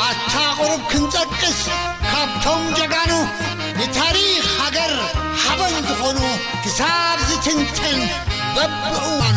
ኣታ ቁሩብ ክንጠቅስ ካብቶም ጀጋኑ ንታሪኽ ሃገር ሓበን ዝኾኑ ክሳብ ዝትንተን በብእዋኑ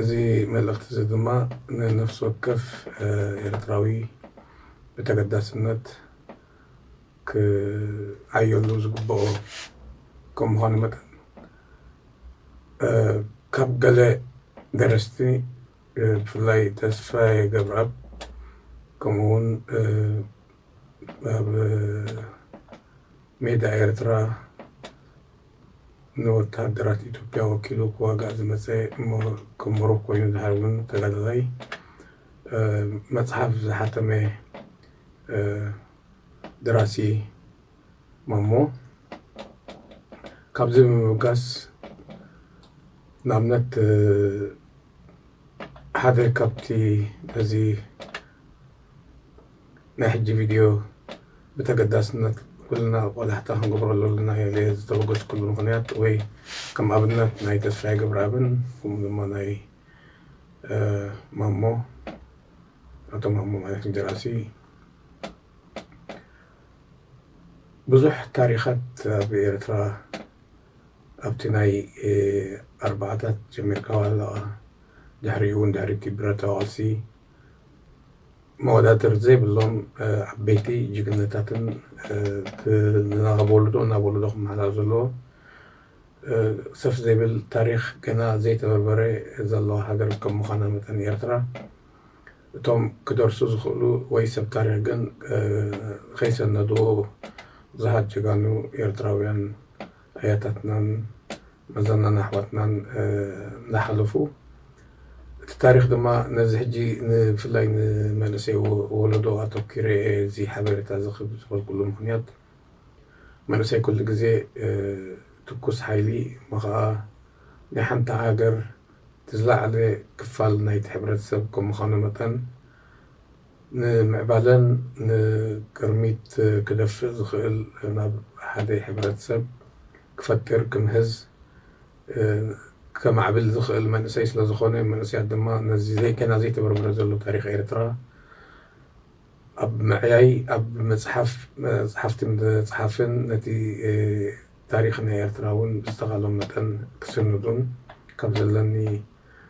እዚ መልእኽቲ እዚ ድማ ንነፍሲ ወከፍ ኤርትራዊ ብተገዳስነት ክዓየሉ ዝግበኦ ከም ምዃኑ መጠን ካብ ገለ ደረስቲ ብፍላይ ተስፋየ ገብረኣብ ከምኡ ውን ኣብ ሜዳ ኤርትራ ንወተሃደራት ኢትዮጵያ ወኪሉ ክዋጋእ ዝመጸ ምሁር ከም ምሁር ኮይኑ ዝሃርምን ተጋዳላይ መጽሓፍ ዝሓተመ ደራሲ ማሞ ካብዚ ብምብጋስ ንኣብነት ሓደ ካብቲ ነዚ ናይ ሕጂ ቪድዮ ብተገዳስነት ኩልና ቆላሕታ ክንገብረሉ ኣለና ኢለ ዝተበገስኩሉ ምኽንያት ወይ ከም ኣብነት ናይ ተስፋይ ገብረኣብን ከምኡ ድማ ናይ ማሞ ኣቶ ማሞ ማለት ደራሲ ብዙሕ ታሪኻት ኣብ ኤርትራ ኣብቲ ናይ ኣርባዓታት ጀሚርካ ዋላ ድሕሪኡ እውን ድሕሪቲ ብረታዊ ቃልሲ መወዳድርቲ ዘይብሎም ዓበይቲ ጅግንነታትን ካብ ወለዶ ናብ ወለዶ ክመሓላለፍ ዘለዎ ሰፍ ዘይብል ታሪኽ ገና ዘይተበርበረ ዘለዋ ሃገር ከም ምዃና መጠን ኤርትራ እቶም ክደርሱ ዝኽእሉ ወይ ሰብ ታሪኽ ግን ከይሰነድዎ ብዙሓት ጀጋኑ ኤርትራውያን ኣያታትናን መዘናን ኣሕዋትናን እንዳሓለፉ እቲ ታሪኽ ድማ ነዚ ሕጂ ንብፍላይ ንመንእሰይ ወለዶ ኣተኪረ እየ እዚ ሓበሬታ እዚ ክብ ዝበልኩሉ ምኽንያት መንእሰይ ኩሉ ግዜ ትኩስ ሓይሊ እሞ ኸኣ ናይ ሓንቲ ሃገር እቲ ዝለዓለ ክፋል ናይቲ ሕብረተሰብ ከም ምዃኑ መጠን ንምዕባለን ንቅርሚት ክደፍእ ዝኽእል ናብ ሓደ ሕብረትሰብ ክፈጥር ክምህዝ ከማዕብል ዝኽእል መንእሰይ ስለዝኾነ መንእሰያት ድማ ነዚ ዘይ ገና ዘይተበርበረ ዘሎ ታሪኽ ኤርትራ ኣብ ምዕያይ ኣብ ምጽሓፍ መጽሓፍቲ ምጽሓፍን ነቲ ታሪኽ ናይ ኤርትራ ውን ብዝተኻሎም መጠን ክስንዱን ካብ ዘለኒ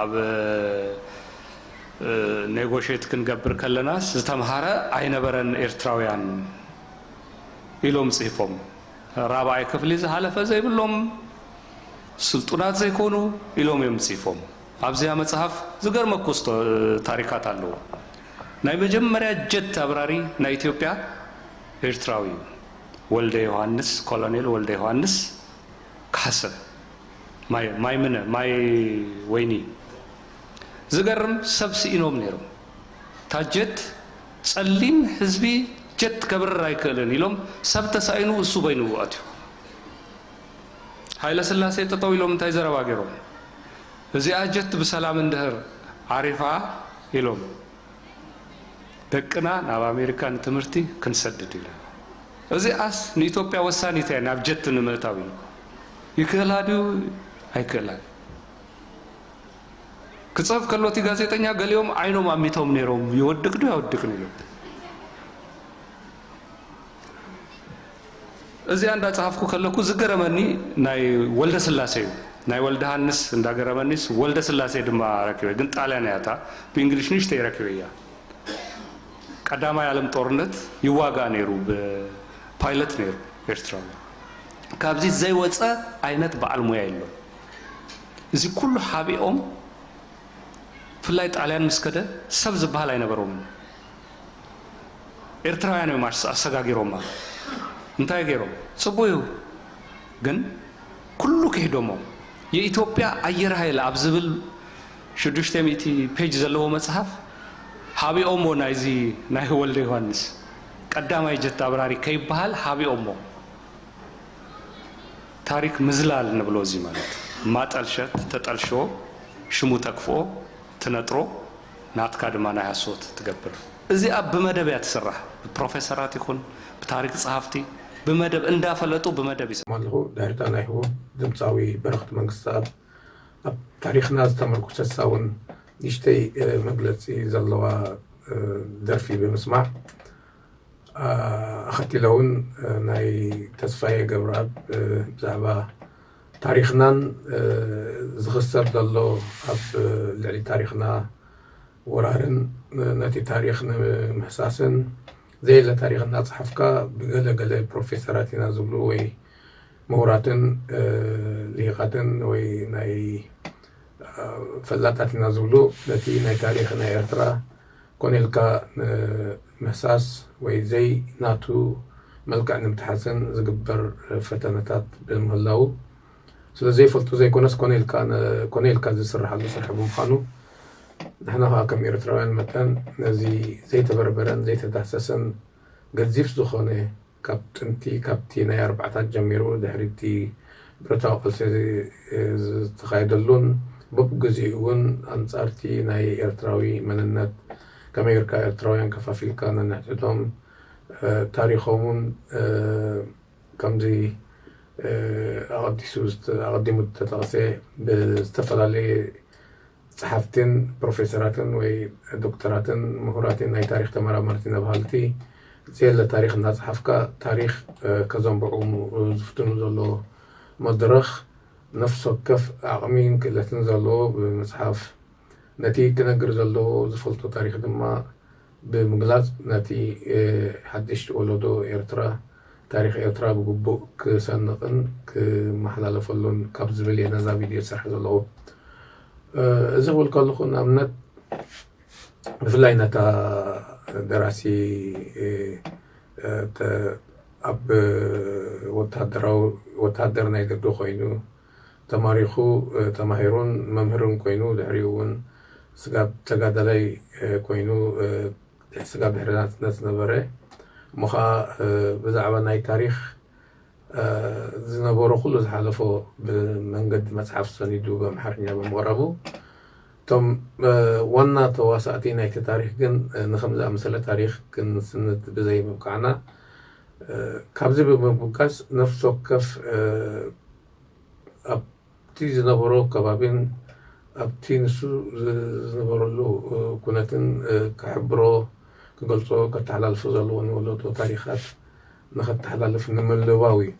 ኣብ ኔጎሼት ክንገብር ከለናስ ዝተምሃረ ኣይነበረን ኤርትራውያን ኢሎም ጽሂፎም ራብዓይ ክፍሊ ዝሃለፈ ዘይብሎም ስልጡናት ዘይኮኑ ኢሎም እዮም ጽሂፎም ኣብዚኣ መጽሃፍ ዝገርመኩ ታሪካት ኣለዉ ናይ መጀመርያ ጀት ኣብራሪ ናይ ኢትዮጵያ ኤርትራዊ እዩ ወልደ ዮሃንስ ኮሎኔል ወልደ ዮሃንስ ካሕሰ ማይ ማይ ምነ ማይ ወይኒ ዝገርም ሰብ ስኢኖም ነይሮም እታ ጀት ጸሊም ህዝቢ ጀት ከብርር ኣይክእልን ኢሎም ሰብ ተሳኢኑ እሱ በይኑ ኣትዩ ሃይለ ስላሴ ጠጠው ኢሎም እንታይ ዘረባ ገይሮም እዚኣ ጀት ብሰላም እንድህር ዓሪፋ ኢሎም ደቅና ናብ ኣሜሪካ ንትምህርቲ ክንሰድድ ኢና እዚኣስ ንኢትዮጵያ ወሳኒት እያ ናብ ጀት ንምእታው ኢሉ ይክእላ ድዩ ኣይክእላን ክጸፍ ከሎ እቲ ጋዜጠኛ ገሊኦም ዓይኖም ኣሚቶም ነይሮም ይወድቅ ድዩ ኣይወድቅን ኢሎም እዚኣ እንዳጸሃፍኩ ከለኩ ዝገረመኒ ናይ ወልደ ስላሴ እዩ ናይ ወልደ ሃንስ እንዳገረመኒስ ወልደ ስላሴ ድማ ረኪበ ግን ጣልያን እያ እታ ብእንግሊሽ ንሽተይ ረኪበ እያ ቀዳማይ ዓለም ጦርነት ይዋጋእ ነይሩ ብፓይለት ነይሩ ኤርትራዊ ካብዚ ዘይወፀ ዓይነት በዓል ሞያ የሎን። እዚ ኩሉ ሓቢኦም ብፍላይ ጣልያን ምስ ከደ ሰብ ዝበሃል ኣይነበሮምን። ኤርትራውያን እዮም ኣሰጋጊሮማ። እንታይ ገይሮም? ፅቡቅ እዩ ግን ኩሉ ክሒዶሞ። የኢትዮጵያ ኣየር ሃይል ኣብ ዝብል ሽዱሽተ ሚእቲ ፔጅ ዘለዎ መፅሓፍ ሃቢኦሞ ናይዚ ናይ ወልደዮሃንስ። ቀዳማይ ጀት ኣብራሪ ከይበሃል ሃቢኦሞ ታሪክ ምዝላል ንብሎ እዚ ማለት ማጠልሸት ተጠልሾ ሽሙ ተክፍኦ ትነጥሮ ናትካ ድማ ናይ ሃሶት ትገብር እዚኣ ብመደብ እያ ትስራሕ ብፕሮፈሰራት ይኩን ብታሪክ ጸሃፍቲ ብመደብ እንዳፈለጡ ብመደብ ኣለኹ ዳርጋ ናይ ህቦ ድምጻዊ በረኸት መንግስተኣብ ኣብ ታሪኽና ዝተመርኩሰት ሳውን ንእሽተይ መግለጺ ዘለዋ ደርፊ ብምስማዕ ኣኸቲለ እውን ናይ ተስፋየ ገብረኣብ ብዛዕባ ታሪኽናን ዝኽሰብ ዘሎ ኣብ ልዕሊ ታሪኽና ወራርን ነቲ ታሪኽ ንምሕሳስን ዘየለ ታሪኽ እናፅሓፍካ ብገለ ገለ ፕሮፌሰራት ኢና ዝብሉ ወይ ምሁራትን ሊሂቃትን ወይ ናይ ፈላጣት ኢና ዝብሉ ነቲ ናይ ታሪኽ ናይ ኤርትራ ኮነ ኢልካ ንምህሳስ ወይ ዘይ ናቱ መልክዕ ንምትሓዝን ዝግበር ፈተነታት ብምህላዉ ስለ ዘይፈልጡ ዘይኮነስ ኮነ ኢልካ ኮነ ኢልካ ዝስርሓሉ ስርሒ ብምዃኑ ንሕና ከኣ ከም ኤርትራውያን መጠን ነዚ ዘይተበርበረን ዘይተዳህሰሰን ገዚፍ ዝኾነ ካብ ጥንቲ ካብቲ ናይ ኣርባዓታት ጀሚሩ ድሕሪ እቲ ብረታዊ ቃልሲ ዝተኻየደሉን በብግዚኡ እውን ኣንጻር እቲ ናይ ኤርትራዊ መንነት ከመይ ጌርካ ኤርትራውያን ከፋፊልካ ነንሕድሕዶም ታሪኾምን ከምዚ ኣቐዲሱ ኣቐዲሙ ዝተጠቕሰ ብዝተፈላለየ ጸሓፍቲን ፕሮፌሰራትን ወይ ዶክተራትን ምሁራቲን ናይ ታሪኽ ተመራመርቲ ነብሃልቲ ዘየለ ታሪኽ እናጸሓፍካ ታሪኽ ከዘንብዑ ዝፍትኑ ዘሎ መድረኽ ነፍሲ ወከፍ ዓቕሚን ክእለትን ዘለዎ ብምጽሓፍ ነቲ ክነግር ዘለዎ ዝፈልጦ ታሪኽ ድማ ብምግላጽ ነቲ ሓድሽ ወለዶ ኤርትራ ታሪኽ ኤርትራ ብግቡእ ክሰንቕን ክመሓላለፈሉን ካብ ዝብል እየ ነዛ ቪድዮ ዝሰርሐ ዘለኹ። እዚ ክብል ከለኹ ንኣብነት ብፍላይ ነታ ደራሲ ኣብ ወታደራዊ ወታደር ናይ ደገ ኮይኑ ተማሪኹ ተማሂሩን መምህርን ኮይኑ ድሕሪኡ ውን ስጋብ ተጋዳላይ ኮይኑ ስጋብ ድሕሪ ናጽነት ዝነበረ እሞ ኸኣ ብዛዕባ ናይ ታሪኽ ዝነበሮ ኩሉ ዝሓለፎ ብመንገዲ መጽሓፍ ሰኒዱ ብኣምሓርኛ ብምቕራቡ እቶም ዋና ተዋሳእቲ ናይቲ ታሪኽ ግን ንኸምዚ ዝኣመሰለ ታሪኽ ክንስንድ ብዘይምብቃዕና ካብዚ ብምብጋስ ነፍሲ ወከፍ ኣብቲ ዝነበሮ ከባቢን ኣብቲ ንሱ ዝነበረሉ ኩነትን ክሕብሮ፣ ክገልጾ፣ ከተሓላልፎ ዘለዎ ንወለዶ ታሪኻት ንኸተሓላልፍ ንምልባው እዩ።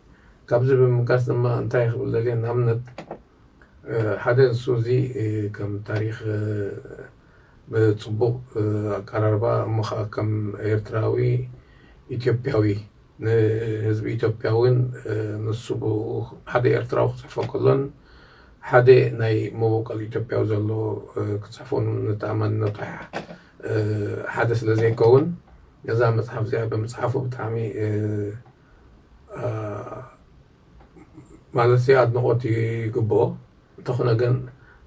ካብዚ ብምብጋስ ድማ እንታይ ክብል ደልየ ንኣብነት፣ ሓደ ንሱ እዚ ከም ታሪኽ ብጽቡቕ ኣቀራርባ እሞ ከኣ ከም ኤርትራዊ ኢትዮጵያዊ ንህዝቢ ኢትዮጵያ ውን ንሱ ብኡ ሓደ ኤርትራዊ ክጽሕፎ ከሎን ሓደ ናይ መቦቆል ኢትዮጵያዊ ዘሎ ክጽሕፎ ንተኣማንነቱ ሓደ ስለ ዘይከውን ነዛ መጽሓፍ እዚኣ ብምጽሓፉ ብጣዕሚ ማለትሲ ኣድንቆት ይግብኦ እንተኮነ ግን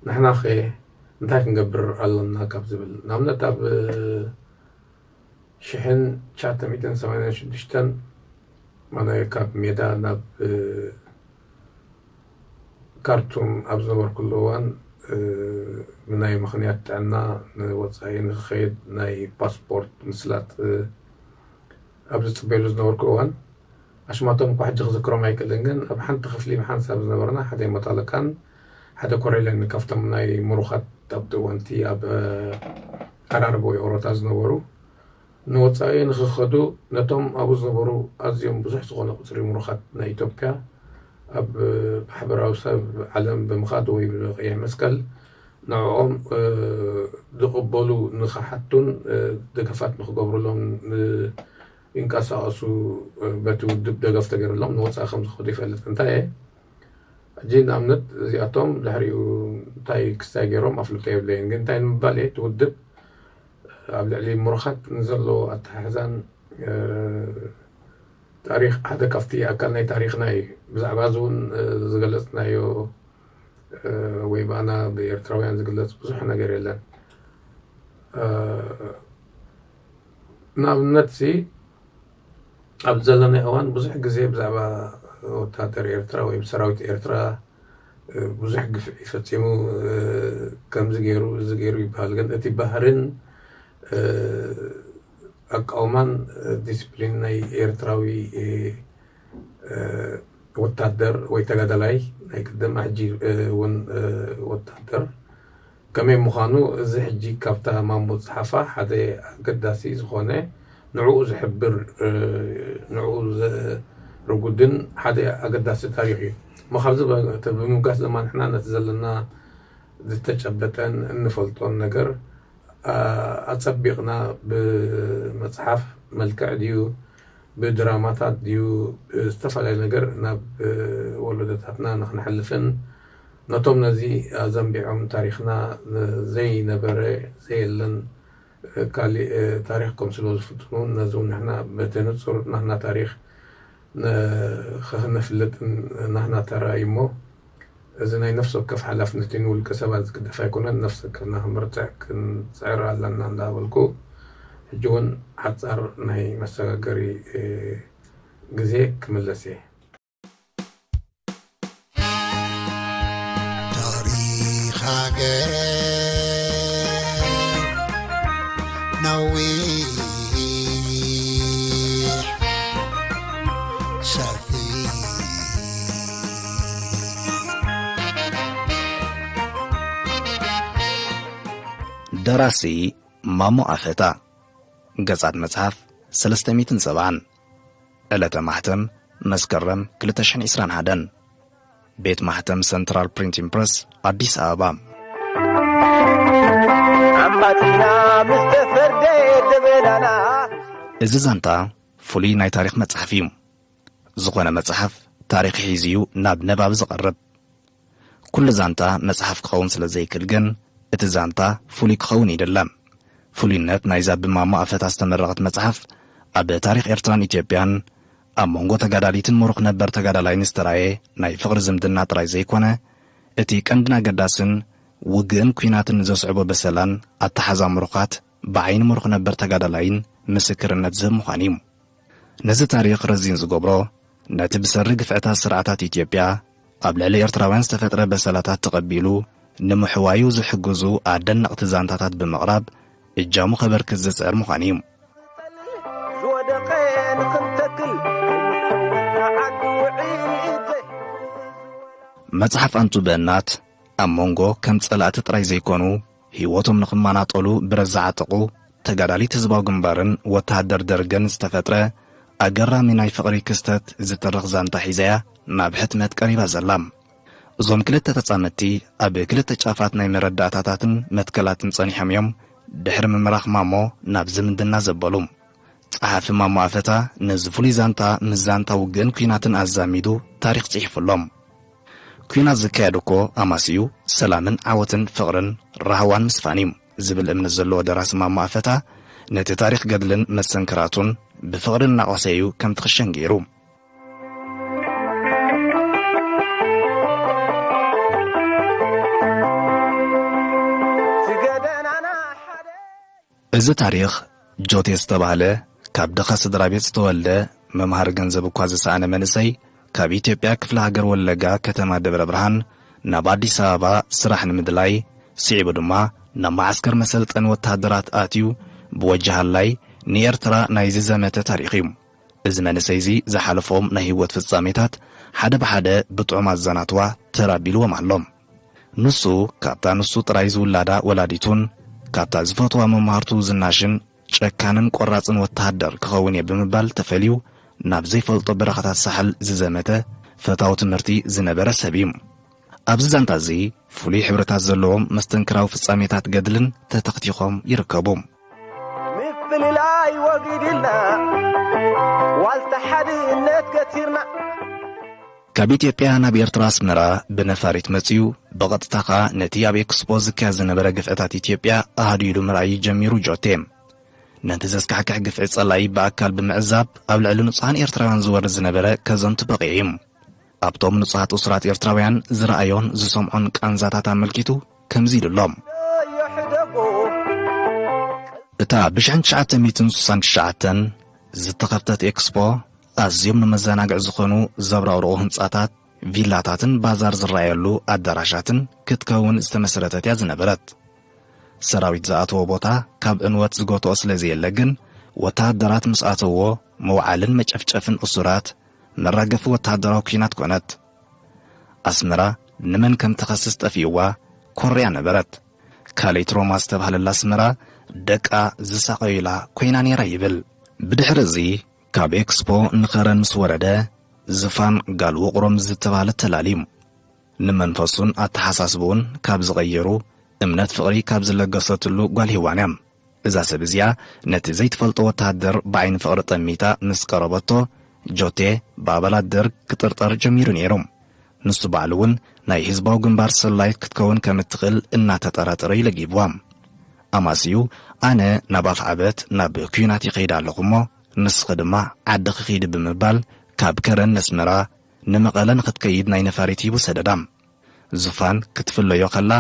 ንሕናከ እንታይ ክንገብር ኣሎና ካብ ዝብል ንኣብነት ኣብ ሽሕን ትሽዓተ ሚእትን ሰማንያን ሽዱሽተን ማነ ካብ ሜዳ ናብ ካርቱም ኣብ ዝነበርኩሉ እዋን ብናይ ምክንያት ጥዕና ንወፃኢ ንክከይድ ናይ ፓስፖርት ምስላጥ ኣብ ዝጽበየሉ ዝነበርኩ እዋን፣ ኣሽማቶም እኳ ሕጂ ክዝክሮም ኣይክእልን፣ ግን ኣብ ሓንቲ ክፍሊ ብሓንሳብ ዝነበርና ሓደ መቶ ኣለቃን ሓደ ኮረይለን ካብቶም ናይ ምሩኻት ኣብቲ እዋን'ቲ ኣብ ኣራርብ ወይ ኦሮታ ዝነበሩ ንወጻኢ ንኽኸዱ ነቶም ኣብኡ ዝነበሩ ኣዝዮም ብዙሕ ዝኾነ ቁጽሪ ምሩኻት ናይ ኢትዮጵያ ኣብ ማሕበራዊ ሰብ ዓለም ብምኻድ ወይ ብቀይሕ መስቀል ንዕኦም ዝቕበሉ ንክሓቱን ደገፋት ንክገብሩሎም ይንቀሳቐሱ በቲ ውድብ ደገፍ ተገይሩሎም ንወፃኢ ከምዝኸዱ ይፈልጥ እንታየ ሕጂ ንኣብነት እዚኣቶም ድሕሪኡ እንታይ ክስታይ ገይሮም ኣፍልጦ የብለይን ግን እንታይ ንምባል እየ እቲ ውድብ ኣብ ልዕሊ ምሩኻት ንዘለዎ ኣተሓሕዛን ታሪክ ሓደ ካብቲ ኣካል ናይ ታሪክና እዩ ብዛዕባ እዚ እውን ዝገለፅናዮ ወይ ብኣና ብኤርትራውያን ዝግለጽ ብዙሕ ነገር የለን ንኣብነት ሲ ኣብ ዘለናዮ እዋን ብዙሕ ግዜ ብዛዕባ ወታደር ኤርትራ ወይ ሰራዊት ኤርትራ ብዙሕ ግፍዒ ፈጺሙ ከምዚ ገይሩ እዚ ገይሩ ይበሃል ግን እቲ ባህርን ኣቃውማን ዲስፕሊን ናይ ኤርትራዊ ወታደር ወይ ተጋዳላይ ናይ ቅድም ሕጂ ውን ወታደር ከመይ ምዃኑ እዚ ሕጂ ካብታ ማሞ ዝጸሓፋ ሓደ ኣገዳሲ ዝኾነ ንዕኡ ዝሕብር ንዕኡ ዘርጉድን ሓደ ኣገዳሲ ታሪኽ እዩ እሞ ካብዚ ብምብጋስ ድማ ንሕና ነቲ ዘለና ዝተጨበጠን እንፈልጦን ነገር ኣጸቢቕና ብመጽሓፍ መልክዕ ድዩ ብድራማታት ድዩ ብዝተፈላለየ ነገር ናብ ወሎዶታትና ንክነሕልፍን ነቶም ነዚ ኣዘንቢዖም ታሪኽና ዘይነበረ ዘየለን ካሊእ ታሪኽ ከምስልዎ ዝፍትኑ እውን ነዚ እውን ንሕና በቲ ንፁር ናህና ታሪኽ ንክነፍልጥን ናህና ተራ እዩ እሞ እዚ ናይ ነፍሲ ወከፍ ሓላፍነት እዩ ንውልቀ ሰባት ዝግደፍ ኣይኮነን ነፍሲ ወከፍና ክንበርትዕ ክንጽዕር ኣለና እንዳበልኩ ሕጂ ውን ሓጻር ናይ መሰጋገሪ ግዜ ክምለስ እየ። ታሪኽ ሃገር ነዊሕ ሰፊሕ ደራሲ ማሞ ኣፈታ ገጻት መጽሓፍ ሰለስተ ሚትን ሰብዓን ዕለተ ማሕተም መስከረም 221 ቤት ማሕተም ሰንትራል ፕሪንቲን ፕረስ ኣዲስ ኣበባ እዚ ዛንታ ፍሉይ ናይ ታሪኽ መጽሓፍ እዩ ዝኾነ መጽሓፍ ታሪኽ ሒዙ እዩ ናብ ነባቢ ዝቐርብ። ኩሉ ዛንታ መጽሓፍ ክኸውን ስለ ዘይክል ግን እቲ ዛንታ ፍሉይ ክኸውን ይድለ። ፍሉይነት ናይዛ ብማሞ ኣፈታ ዝተመረቐት መጽሓፍ ኣብ ታሪኽ ኤርትራን ኢትዮጵያን ኣብ መንጎ ተጋዳሊትን ሙሩኽ ነበር ተጋዳላይን ዝተራየ ናይ ፍቕሪ ዝምድና ጥራይ ዘይኮነ እቲ ቀንድን ኣገዳስን ውግእን ኩናትን ንዘስዕቦ በሰላን ኣተሓዛ ሙሩኻት ብዓይኒ ሙሩኽ ነበር ተጋዳላይን ምስክርነት ዝህብ ምዃኑ እዩ። ነዚ ታሪኽ ረዚን ዝገብሮ፣ ነቲ ብሰሪ ግፍዕታት ስርዓታት ኢትዮጵያ ኣብ ልዕሊ ኤርትራውያን ዝተፈጥረ በሰላታት ተቐቢሉ ንምሕዋዩ ዝሕግዙ ኣደነቕቲ ዛንታታት ብምቕራብ እጃሙ ከበርክት ዝጽዕር ምዃኑ እዩ። ዝወደቐ ንኽንተክል ከይፈለጥና ዓዲ ውዒት ዘይሕውስ ወላ መጽሓፍ ኣንቱ በእናት ኣብ መንጎ ከም ጸላእቲ ጥራይ ዘይኮኑ ህይወቶም ንኽማናጠሉ ብረት ዝዓጠቑ ተጋዳሊት ህዝባዊ ግንባርን ወተሃደር ደርግን ዝተፈጥረ ኣገራሚ ናይ ፍቕሪ ክስተት ዝትርኽ ዛንታ ሒዛ'ያ ናብ ሕትመት ቀሪባ ዘላ። እዞም ክልተ ተጻመድቲ ኣብ ክልተ ጫፋት ናይ መረዳእታታትን መትከላትን ጸኒሖም እዮም ድሕሪ ምምራኽ ማሞ ናብ ዝምድና ዘበሉ። ጸሓፊ ማሞ ኣፈታ ነዚ ፍሉይ ዛንታ ምስ ዛንታ ውግእን ኲናትን ኣዛሚዱ ታሪኽ ጽሒፉሎም። ኲናት ዝካየድ እኮ ኣማስይኡ ሰላምን ዓወትን ፍቕርን ራህዋን ምስፋን እዩ ዝብል እምነት ዘለዎ ደራሲ ማሞ ኣፈታ ነቲ ታሪኽ ገድልን መስተንክራቱን ብፍቕሪ እናቖሰ እዩ ከምቲ ክሸን ገይሩ እዚ ታሪኽ ጆቴ ዝተባህለ ካብ ድኻ ስድራቤት ዝተወልደ ምምሃር ገንዘብ እኳ ዝሰኣነ መንእሰይ ካብ ኢትዮጵያ ክፍለ ሃገር ወለጋ ከተማ ደብረ ብርሃን ናብ ኣዲስ ኣበባ ስራሕ ንምድላይ ስዒቡ ድማ ናብ መዓስከር መሰልጠኒ ወተሃደራት ኣትዩ ብወጅ ሃላይ ንኤርትራ ናይ ዝዘመተ ታሪኽ እዩ። እዚ መንእሰይ እዚ ዝሓለፎም ናይ ህይወት ፍጻሜታት ሓደ ብሓደ ብጥዑም ኣዘናትዋ ተር ኣቢልዎም ኣሎ። ንሱ ካብታ ንሱ ጥራይ ዝውላዳ ወላዲቱን ካብታ ዝፈትዋ መማህርቱ ዝናሽን ጨካንን ቆራጽን ወተሃደር ክኸውን እየ ብምባል ተፈልዩ ናብ ዘይፈልጦ በረኻታት ሳሕል ዝዘመተ ፈታዊ ትምህርቲ ዝነበረ ሰብ እዩ። ኣብዚ ዛንታ እዚ ፍሉይ ሕብርታት ዘለዎም መስተንክራዊ ፍጻሜታት ገድልን ተተኽቲኾም ይርከቡ። ምፍልላይ ወጊድልና ዋልታ ሓድነት ከቲርና ካብ ኢትዮጵያ ናብ ኤርትራ ኣስመራ ብነፋሪት መጺኡ፣ ብቐጥታ ከኣ ነቲ ኣብ ኤክስፖ ዝካየድ ዝነበረ ግፍዕታት ኢትዮጵያ ኣሃዱ ኢሉ ምርኣይ እዩ ጀሚሩ ጆቴ። ነቲ ዘስካሕክሕ ግፍዒ ጸላኢ ብኣካል ብምዕዛብ ኣብ ልዕሊ ንጹሃን ኤርትራውያን ዝወርድ ዝነበረ ከዘንቱ በቒዑ እዩ። ኣብቶም ንጹሃት እሱራት ኤርትራውያን ዝረኣዮን ዝሰምዖን ቃንዛታት ኣመልኪቱ ከምዚ ኢሉ ኣሎ። እታ ብሽሕን ትሽዓተ ሚእትን ስሳን ትሽዓተን ዝተኸፍተት ኤክስፖ ኣዝዮም ንመዘናግዒ ዝዀኑ ዘብረቕርቑ ህንጻታት፣ ቪላታትን ባዛር ዝረኣየሉ ኣዳራሻትን ክትከውን ዝተመስረተት እያ ዝነበረት። ሰራዊት ዝኣትዎ ቦታ ካብ ዕንወት ዝጎትኦ ስለ ዘየለ ግን፣ ወተሃደራት ምስ ኣተውዎ ምውዓልን መጨፍጨፍን እሱራት መራገፊ ወተሃደራዊ ኲናት ኰነት። ኣስመራ ንመን ከም ትኸስስ ጠፊኡዋ ኮርያ ነበረት። ካልእቲ ሮማ ዝተባህለላ ኣስመራ ደቃ ዝሳቐዩላ ኰይና ነይራ ይብል። ብድሕሪ እዚ ካብ ኤክስፖ ንኸረን ምስ ወረደ ዝፋን ጋል ውቕሮ ምስ ዝተባህለት ተላልዩ ንመንፈሱን ኣተሓሳስብኡን ካብ ዝቐየሩ እምነት ፍቕሪ ካብ ዝለገሰትሉ ጓል ሂዋን እያ። እዛ ሰብ እዚኣ ነቲ ዘይትፈልጦ ወተሃደር ብዓይኒ ፍቕሪ ጠሚታ ምስ ቀረበቶ ጆቴ ብኣባላት ደርግ ክጥርጠር ጀሚሩ ነይሩ። ንሱ ባዕሉ እውን ናይ ህዝባዊ ግንባር ሰላዪት ክትከውን ከም እትኽእል እናተጠራጠረ እዩ ለጊብዋ። ኣማስዩ ኣነ ናብ ኣፍዓበት ናብ ኲናት ይኸይድ ኣለኹ እሞ ንስኺ ድማ ዓድኺ ኺዲ ብምባል ካብ ከረን ነስመራ ንመቐለ ንኽትከይድ ናይ ነፋሪት ሂቡ ሰደዳ። ዙፋን ክትፍለዮ ኸላ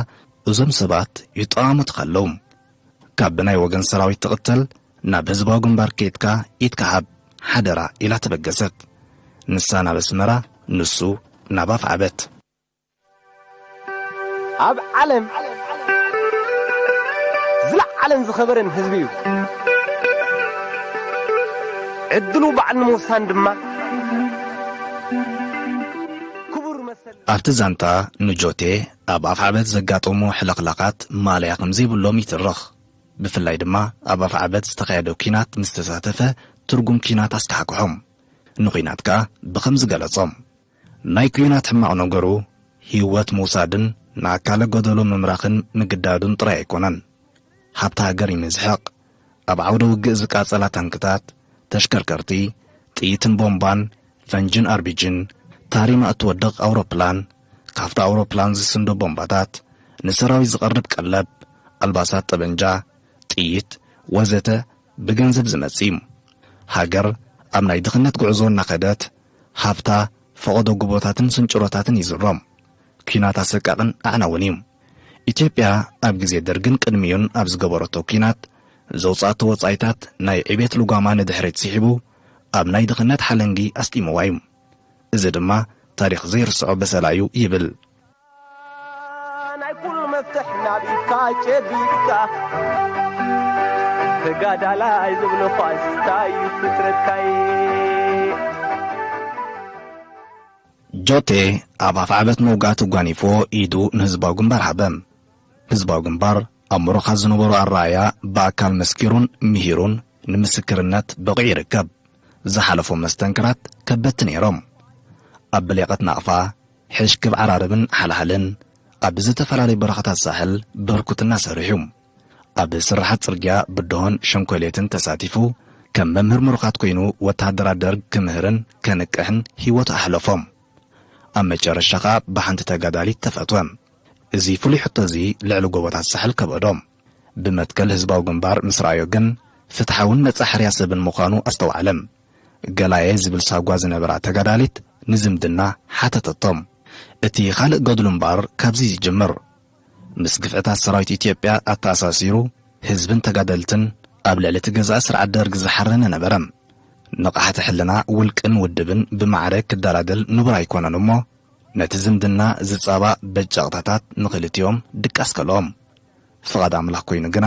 እዞም ሰባት ይጠማመቱ ኸለዉ ካብ ብናይ ወገን ሰራዊት ትቕተል ናብ ህዝባዊ ግንባር ኬድካ ኢድካ ሃብ ሓደራ ኢላ ተበገሰት። ንሳ ናብ ኣስመራ ንሱ ናብ ኣፍዓበት። ኣብ ዓለም ዝለዓለን ዝኸበረን ህዝቢ እዩ። ዕድሉ ባዕሉ ንምውሳን ድማ ክቡር መሰል ኣብቲ ዛንታ ንጆቴ ኣብ ኣፍዓበት ዘጋጠሙ ሕልኽላኻት ማእለያ ከምዘይብሎም ይትርኽ። ብፍላይ ድማ ኣብ ኣፍዓበት ዝተኻየደ ኲናት ምስ ተሳተፈ ትርጉም ኲናት ኣስካሕክሖም። ንዂናት ከኣ ብኸምዚ ገለጾም። ናይ ኩናት ሕማቕ ነገሩ ሂወት ምውሳድን ንኣካለ ጎደሎ ምምራኽን ምግዳዱን ጥራይ ኣይኮነን። ሃብቲ ሃገር እዩ ምዝሕቕ። ኣብ ዓውደ ውግእ ዝቃጸላ ታንክታት፣ ተሽከርከርቲ፣ ጥይትን ቦምባን፣ ፈንጅን ኣርቢጅን፣ ታሪማ እትወድቕ ኣውሮፕላን፣ ካብታ ኣውሮፕላን ዝስንዶ ቦምባታት፣ ንሰራዊት ዝቐርብ ቀለብ፣ ኣልባሳት ጠበንጃ፣ ጥይት፣ ወዘተ ብገንዘብ ዝመጽእ እዩ። ሃገር ኣብ ናይ ድኽነት ጉዕዞ እናኸደት፣ ሃብታ ፈቐዶ ጉቦታትን ስንጭሮታትን ይዝሮም። ኲናት ኣሰቃቕን ኣዕናውን እዩ። ኢትዮጵያ ኣብ ግዜ ደርግን ቅድሚኡን ኣብ ዝገበረቶ ኲናት ዘውጽኣቶ ወጻኢታት ናይ ዕቤት ልጓማ ንድሕሪት ሲሒቡ ኣብ ናይ ድኽነት ሓለንጊ ኣስጢምዋ እዩ። እዚ ድማ ታሪኽ ዘይርስዖ በሰላ እዩ ይብል። ጆቴ ኣብ ኣፍዓበት ምውጋእ ተጓኒፎ ኢዱ ንህዝባዊ ግንባር ሃበ። ህዝባዊ ግንባር ኣብ ሞሮኻ ዝነበሩ ኣረኣያ ብኣካል መስኪሩን ምሂሩን ንምስክርነት በቒዑ ይርከብ። ዝሓለፎም መስተንክራት ከበድቲ ነይሮም። ኣብ ብሌቐት ናቕፋ ሕሽ ክብ ዓራርብን ሓልሃልን ኣብ ዝተፈላለዩ በረኻታት ሳሕል በርኩትና ሰሪሑ። ኣብ ስርሓት ጽርግያ ብድሆን ሸንኮሌትን ተሳቲፉ ከም መምህር ምሩኻት ኮይኑ ወተሃደራት ደርግ ክምህርን ከንቅሕን ህይወቱ ኣሕለፎ። ኣብ መጨረሻ ከኣ ብሓንቲ ተጋዳሊት ተፈትወ። እዚ ፍሉይ ሕቶ'ዚ ልዕሊ ጎቦታት ሳሕል ከበዶ። ብመትከል ህዝባዊ ግንባር ምስ ረኣዮ ግን ፍትሓውን ነጻ ሕርያ ሰብን ምዃኑ ኣስተውዓለ። ገላየ ዝብል ሳጓ ዝነበራ ተጋዳሊት ንዝምድና ሓተተቶም። እቲ ካልእ ገድሉ እምበኣር ካብዚ ይጅምር። ምስ ግፍዕታት ሰራዊት ኢትዮጵያ ኣተኣሳሲሩ ህዝብን ተጋደልትን ኣብ ልዕሊ እቲ ገዛኢ ስርዓት ደርግ ዝሓረነ ነበረ። ንቕሓተ ሕልና ውልቅን ውድብን ብማዕረ ክደላደል ንቡር ኣይኮነን እሞ ነቲ ዝምድና ዝጻባእ በጃቕታታት ንኽልቲኦም ድቃስ ከልኦም። ፍቓድ ኣምላኽ ኮይኑ ግና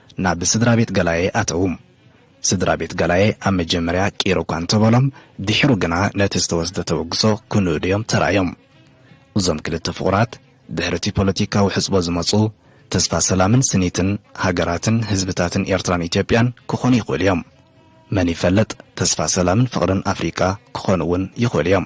ናብ ስድራ ቤት ገላየ ኣተዉ። ስድራ ቤት ገላየ ኣብ መጀመርያ ቂር እኳ እንተ በሎም፣ ድሒሩ ግና ነቲ ዝተወስደ ተበግሶ ክንእዱ እዮም ተራእዮም። እዞም ክልተ ፍቑራት፣ ድሕሪ እቲ ፖለቲካዊ ሕጽቦ ዝመጹ፣ ተስፋ ሰላምን ስኒትን ሃገራትን ህዝብታትን ኤርትራን ኢትዮጵያን ክኾኑ ይኽእሉ እዮም። መን ይፈልጥ፣ ተስፋ ሰላምን ፍቕርን ኣፍሪቃ ክኾኑ እውን ይኽእሉ እዮም።